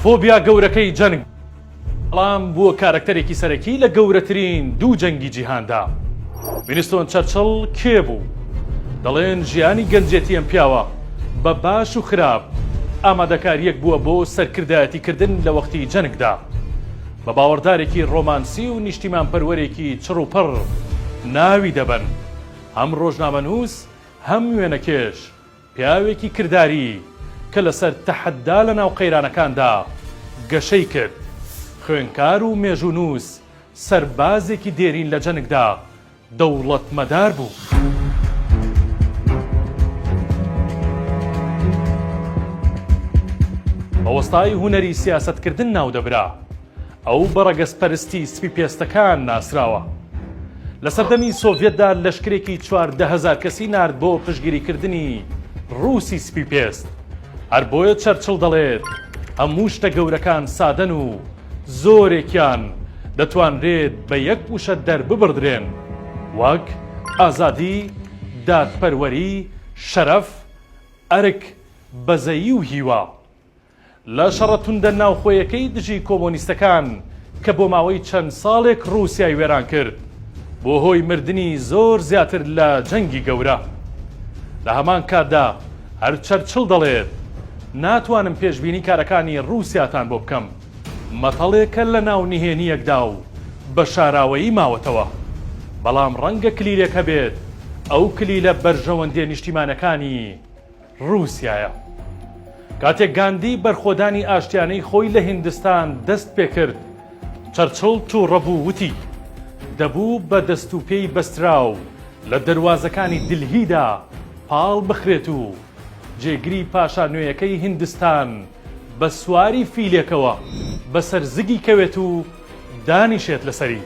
فۆبیا گەورەکەی جەنگ بەڵام بووە کارەکتەرێکی سەرەکی لە گەورەترین دوو جەنگی جیهاندا. وینستۆن چەرچڵ کێ بوو؟ دەڵێن ژیانی گەنجێتی ئەم پیاوە بە باش و خراپ ئامادەکارییەک بووە بۆ سەرکردایەتیکردن لە وەختی جەنگدا. بە باوەڕدارێکی ڕۆمانسی و نیشتیمانپەروەرێکی چڕوپڕ ناوی دەبەن. هەم ڕۆژنامەنووس هەم وێنەکێش، پیاوێکی کرداری کە لەسەر تەحەدا لە ناو قەیرانەکاندا گەشەی کرد، خوێنکار و مێژوونووس، سەربازێکی دێرین لە جەنگدا، دەوڵەتمەدار بوو. بە وەستای هونەری سیاسەتکردن ناو دەبرا. ئەو بە ڕەگەزپەرستی سپی پێستەکان ناسراوە. لە سەردەمی سۆڤیەتدا لەشکرێکی چواردە هەزار کەسی نارد بۆ پشتگیریکردنی ڕووسی سپی پێست. هەر بۆیە چەرچڵ دەڵێت، هەموو شتە گەورەکان سادەن و زۆرێکیان دەتوانرێت بە یەک وشە دەرببڕدرێن، وەک، ئازادی، دادپەروەری، شەرەف، ئەرک، بەزەیی و هیوا. لە شەڕە توندە ناوخۆیەکەی دژی کۆمۆنیستەکان کە بۆ ماوەی چەند ساڵێک ڕووسیای وێران کرد، بووە هۆی مردنی زۆر زیاتر لە جەنگی گەورە. لە هەمان کاتدا هەر چەرچڵ دەڵێت، ناتوانم پێشبینی کارەکانی ڕووسیاتان بۆ بکەم، مەتەڵێکە لە ناو نهێنییەکدا و بە شاراوەیی ماوەتەوە. بەڵام ڕەنگە کلیلێک هەبێت، ئەو کلیلە بەرژەوەندییە نیشتیمانەکانی. ڕووسیایە. کاتێک گاندی بەرخۆدانی ئاشتیانەی خۆی لە هیندستان دەست پێ کرد، چەرچڵ تووڕە بوو وتی، دەبوو بە دەست و پێی بەستراو لە دەروازەکانی دیلهیدا پاڵ بخرێت و جێگری پاشا نوێیەکەی هیندستان بە سواری فیلێکەوە بە سەر زگی کەوێت و دانیشێت لەسەری.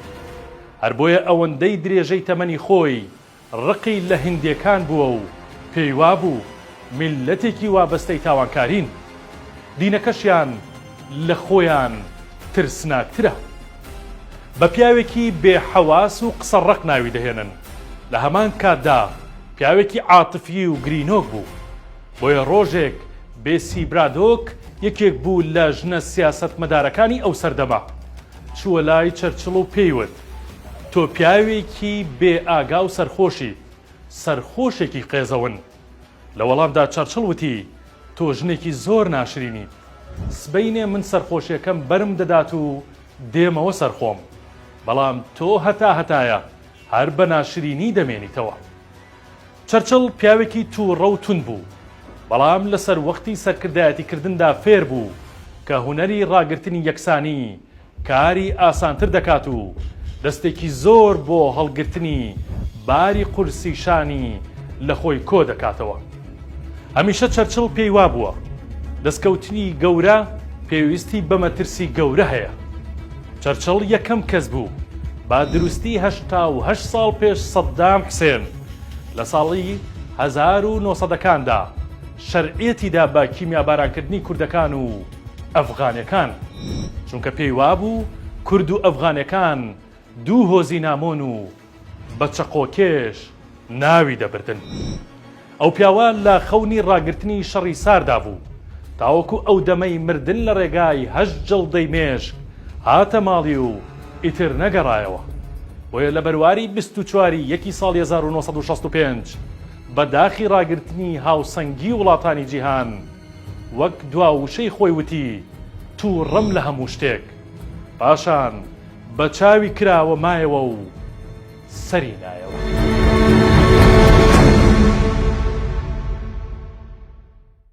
هەر بۆیە ئەوەندەی درێژەی تەمەنی خۆی ڕقی لە هندێکان بووە و پێی وابوو میللەتێکی وابەستەی تاوانکارین، دینەکەشیان لە خۆیان ترسناکترە. بە پیاوێکی بێ حەواس و قسە ڕەق ناوی دەهێنن، لە هەمان کاتدا پیاوێکی عاتفی و گرینۆک بوو. بۆیە ڕۆژێک بێسی برادۆک یەکێک بوو لە ژنە سیاسەتمەدارەکانی ئەو سەردەمە، چووە لای چەرچڵ و پێی وت، تۆ پیاوێکی بێ ئاگا و سەرخۆشی، سەرخۆشێکی قێزەون. لە وەڵامدا چەرچڵ وتی، تۆ ژنێکی زۆر ناشرینیت. سبەینێ من سەرخۆشیەکەم بەرم دەدات و دێمەوە سەر خۆم. بەڵام تۆ هەتا هەتایە هەر بە ناشرینی دەمێنیتەوە. چەرچڵ پیاوێکی تووڕە و توند بوو، بەڵام لە سەر وەختی سەرکردایەتیکردندا فێر بوو کە هونەری ڕاگرتنی یەکسانی کاری ئاسانتر دەکات و دەستێکی زۆر بۆ هەڵگرتنی باری قورسی شانی لە خۆی کۆ دەکاتەوە. هەمیشە چەرچڵ پێی وابووە دەستکەوتنی گەورە پێویستی بە مەترسی گەورە هەیە. چەرچڵ یەکەم کەس بوو بە دروستی هەشتا و هەشت ساڵ پێش سەددام حسێن لە ساڵی هەزار و نۆ سەدەکاندا شەرعیەتی دا بە کیمیابارانکردنی کوردەکان و، ئەفغانەکان، چونکە پێی وابوو کورد و ئەفغانەکان دوو هۆزی نامۆن و بە چەقۆکێش ناوی دەبردن. ئەو پیاوە لە خەونی ڕاگرتنی شەڕی ساردا بوو، تاوەکو ئەو دەمەی مردن لە ڕێگای هەشت جڵدەی مێشک هاتە ماڵی و ئیتر نەگەڕایەوە. بۆیە لە بەرواری بیست و چوار ی یەکی ساڵی هەزار و نۆ سەد و شەست و پێنج بە داخی ڕاگرتنی هاوسەنگی وڵاتانی جیهان، وەک دوا وشەی خۆی وتی، تووڕەم لە هەموو شتێک. پاشان بە چاوی کراوە مایەوە و سەری نایەوە.